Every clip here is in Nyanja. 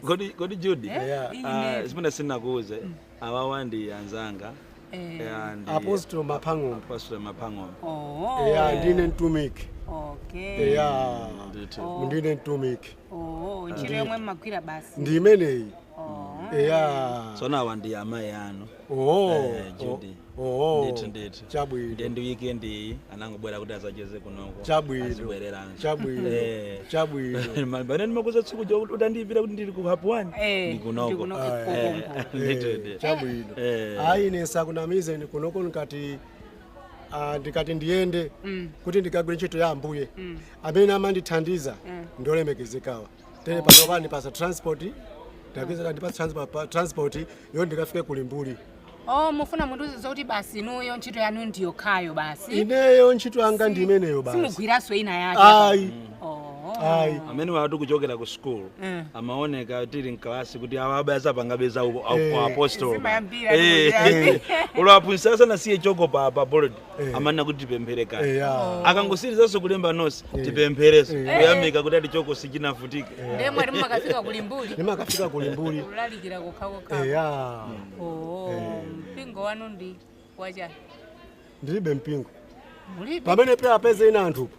Kodi kodi Judy? Eh? Yeah. Ah, zimene sindinakuuze. Mm. Awawa ndi anzanga. Eh. Yeah, ndi Apostle Mapang'ombe. Apostle Mapang'ombe. Oh. Yeah, ndine mtumiki. Okay. Yeah. Ndithu. Oh. Ndine mtumiki. Oh, ntchito yomwe mmagwira basi. Ndi imeneyi. Oh. Yeah. Tsono awa ndi amayi anu. Oh, Eh, oh, Judy. oh, Ndithu, ndithu. chabwino Ndiye ndi weekend iyi anangobwera kuti azacheze kunoko. Chabwino. Azibwereranso. chabwino Eh. chabwino Mabana ndimakuuza tsiku lija kuti utandiimbira kuti ndili ku hub 1. Eh, Ndi kunoko. ndikunoko. Ah, Kuku. eh, Ndithu, Eh, ndithu. chabwino Eh. ayi ine sindikunamize ndi kunoko ndikati ah, ndikati ndiyende kuti ndikagwire ntchito ya ambuye amene amandithandiza ndiolemekezekawa tere pano pondipatsa transport tapeza kandipatsa transport yo ndikafike ku Limbuli oh mufuna mundiuze zoti basi inuyo ntchito yanu ndiyokhayo basi ineyo ntchito yanga ndi imeneyo basi simugwiranso ina yake ayi oh. ayi amenewatu kuchokera ku school Mm. amaoneka tili mkalasi kuti awa abayaza pangabeza Eh. apostol Zimayambira, zimayambira. olo aphunzitsi asanasiye choko pa pa board Eh. amanena kuti tipemphere kaya eya akangotsirizanso kulemba nonse tipempherenso kuyamika kuti ati choko sichinavutike ndiye mwati mumakafika ku Limbuli ndimakafika ku Limbuli kulalikira kokhakokha eya oo mpingo wanu ndi wachani ndilibe mpingo mulibe pamene pe apeze ina anthu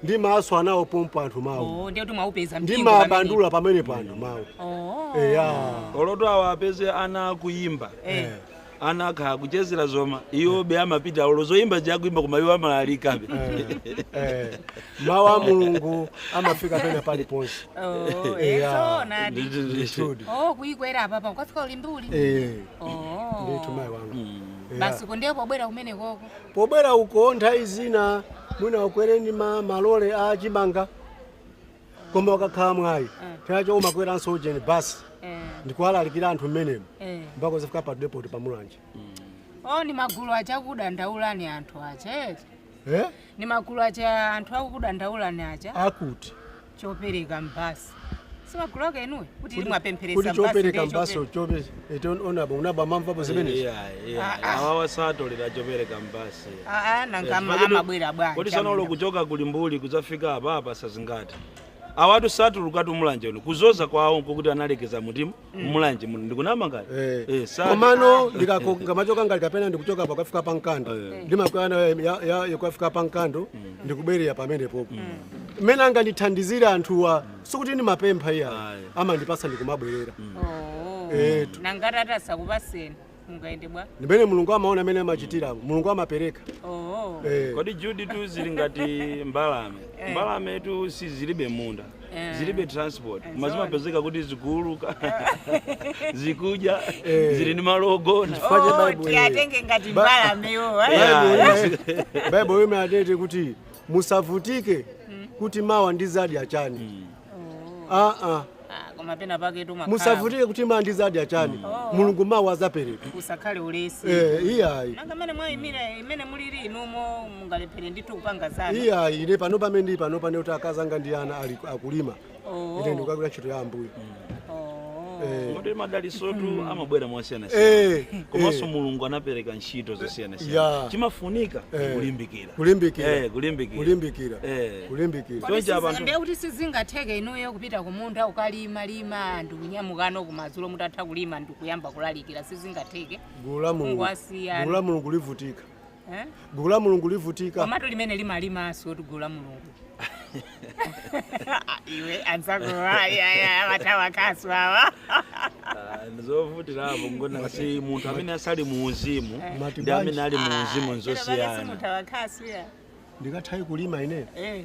ndi maso anawo pompo anthu mawu oo ndiye kuti mwaupeza ndi mpingo ndimabandula pamenepo anthu mawu pamene. oo eya olotu awa apeze ana akuyimba Eh. ana akhala akuchezera zoma iwobe amapita olo zoyimba zikuimba koma iwo amalalikabe Eh, mawu a mulungu amafika pena paliponse Oh, Eh, eh, ah. zoonadi. Ndithudi. Oh, kuyikwera apapa ukafika ku Limbuli Eh, Oh. ndithu mayi wanga Yeah. basi kundiye pobwera kumene koko pobwera uko nthawi zina mwina ukwere ndi ma- malole a chimanga koma ukakhala mwayi chaka chomwe umakweranso ujeni basi ndikuwalalikira anthu mmenemo mpaka kuzafika pa depoti pa Mulanje o ndi magulu aja akudandaulani anthu aja eti Eh? ni magulu aja anthu akukudandaulani aja akuti chopereka mbasi si magulu ake inuyo kuti Kuti- mwapempheretsa mbasi kuti chopereka mbasi chope Eton onaba unaba umamvapo zimenezo. Iya, iya. Ah, ah. Awawa satolera chopereka mbasi. aa nanga Eh, ama- paketu- amabwera bwanji Kodi sanolo amuna. kuchoka ku Limbuli kudzafika apa apa sazingati. Awatu satulukatu Mulanje uno kuzoza kwawo nkokuti analekeza mutima Mulanje muno ndikunama ngati. Eh. Eh, sati. komano ndikamachoka ngati kapena ndikuchoka pa kukafika pa Mkando Eh. ndimakwana yakukafika pa Mkando ndikubwerera pamenepopo mmene angandithandizire anthuwa sikuti ndimapempha iyayi Ayi. amandipasa ndikumabwerera Oh. Etu. nangati atasakupaseni mungayende bwa ndi mmene mulungu amaona amene amachitira mulungu amapereka Oh. Eh. kodi Judy tu zili ngati mbalame mbalametu si zilibe munda Eh. zilibe transport Eh, koma zimapezeka kuti zikuuluka zikudya Eh. zili ndi malo ogona Chifukwa cha Oh, Bible, eh. tiyatenge ngati Ba- mbalamewo Yeah. baibulo imati tere kuti musavutike kuti mawa ndizadya chani aa Ah, koma penapake tu makhala. musavutike kuti mawa ndizadya chani mulungu mawa azapereka Usakhale ulesi. Eh, iyayi Nanga mene mwayimira mmene muliri inumo mungalephere ndithu kupanga zanu. iyayi ine pano pamene ndi panopa ndiye kuti akazanga ndi ana ali akulima Oh. ine ndikukagwira ntchito ya ambuye Oh. Eh, Kodi madalisotu amabwera mosiyana eh, komanso eh, mulungu anapereka ntchito zosiyana Yeah. chimafunika Eh. kulimbikira Kulimbikira. Eh, kulimbikira kulimbikira Eh. kulimbikira Kodi Choncho abantu- sizimbe kuti sizingatheke inuyo kupita kumunda kukalima lima ndikunyamukano kumadzulo mutatha kulima ndikuyamba kulalikira sizingatheke gulu la mulungu Ngwasiyana. gulu la mulungu livutika Eh? gulu la mulungu livutika komatu limene limalimanso kuti gulu la mulungu iwe anzako awatawakaso awa ndizovutirapo mukuona kuti munthu amene asali mu uzimu Mati ndi amene ali mu uzimu nzosiyana mutawakaso ya ndikathawi kulima ine Eh.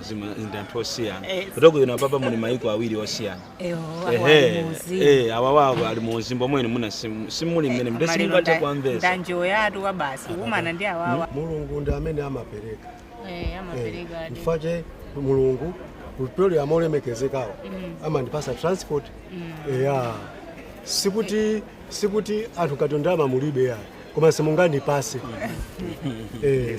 Zima- ndi anthu osiyana Eh. kuteroko inu apapa muli maiko awiri osiyana Eyo, Ehe, akwali muzi. eh, awawawo ali mu uzimu omwe muna simu- simuli mmene mde Maliro simungate nda- kwamvesa ndanjiwo yatu kwa basi kumana ndi awawa mulungu ndi amene amapereka Eh, amapereka adi. chifukwa chake mulungu kupyolera mwa olemekezekawo amandipasa transport eya sikuti sikuti anthu kuti ndalama mulibe ya koma simungandipase Eh,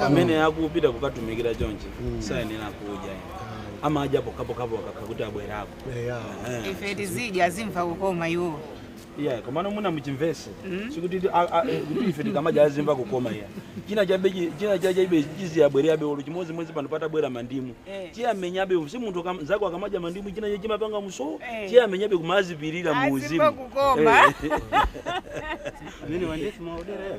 pamene akupita kukatumikira chonchi mm. sayenera kudya amadya pokapokapo akakuti abwerako ife tizidya azimva kukoma iwo yeah komano muna muchimvese mm. sikuti eh, kuti ife tikamadya azimva kukoma iyayi china chabe china chaja ibe chiziyabwabe olo chimozi mwezi pano patabwera mandimu eh. chiya menya abe si munthu kam, zako akamadya mandimu china chaja chimapanga umuso eh. chiya menya abe kumazipilira muuzimu azimva kukoma eh. nini wandefu maodera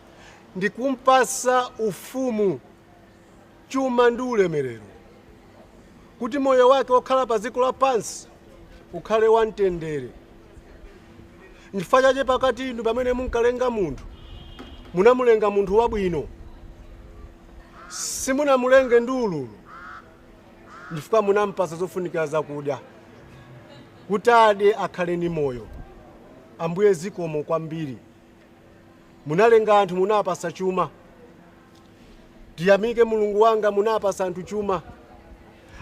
ndi kumpatsa ufumu, chuma ndi ulemerero, kuti moyo wake wokhala pa dziko lapansi ukhale wamtendere. Nchifukwa chache pakati inu pamene munkalenga munthu, munamulenga munthu wabwino, simunamulenge ndi ululu, nchifukwa munampatsa zofunikira zakudya, kuti adye akhale ndi moyo. Ambuye zikomo kwambiri. Munalenga anthu munawapasa chuma Tiyamike Mulungu wanga munawapasa anthu chuma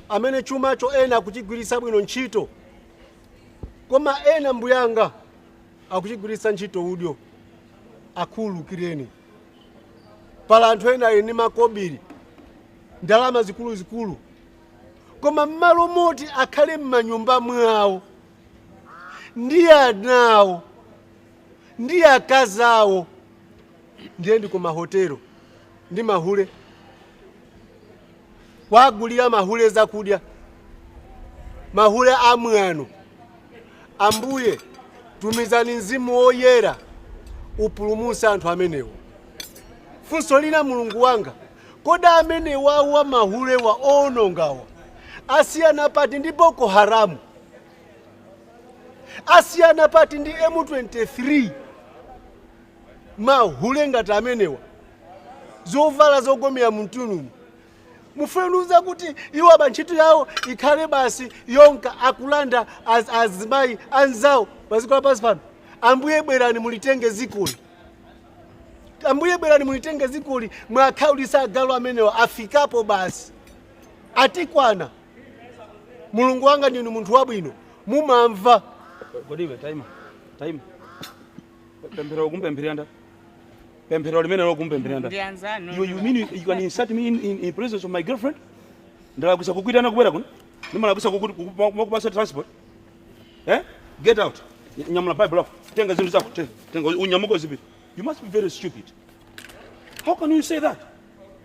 Amene chumacho ena akuchigwirisa bwino ntchito Koma ena mbuyanga akuchigwirisa ntchito udyo Akhululukireni Pala anthu ena ali ndi makobiri Ndalama zikuluzikulu Koma mmalo moti akhale mmanyumba mwao ndi ana awo ndi akazi awo ndiye ndi kumahotelo ndi mahule kuwagulira mahule zakudya mahule amwano ambuye tumizani mzimu woyera upulumutse anthu amenewa funso lina mulungu wanga kodi amenewawa mahulewa owonongawa asiyana pati ndi boko haramu asiyana pati ndi m23 mahule ngati amenewa zovala zogomera mumtunumu mufuna kundiuza kuti iwo aba ntchito yawo ikhale basi yonka akulanda az- azimayi anzawo paziko lapansi pano ambuye bwerani mulitenge zikoli ambuye bwerani mulitenge zikoli muwakhaulise agalu amenewa afikapo basi atikwana mulungu wanga ndinu munthu wabwino mumamva kodi iwe taima taima pemphero lake mukupempherera ndani pemphero limeneli mukupempherera ndani Ndi anzanu. you, you mean you, you can insult me in, in, in presence of my girlfriend ndalakwisa kukuitana kubwera kuno ndimalakwisa kuku- kuku- kumakupasa transport eh? get out Ny- nyamula bible lako tenga zinthu zako te- tenga unyamuke uzipita you must be very stupid how can you say that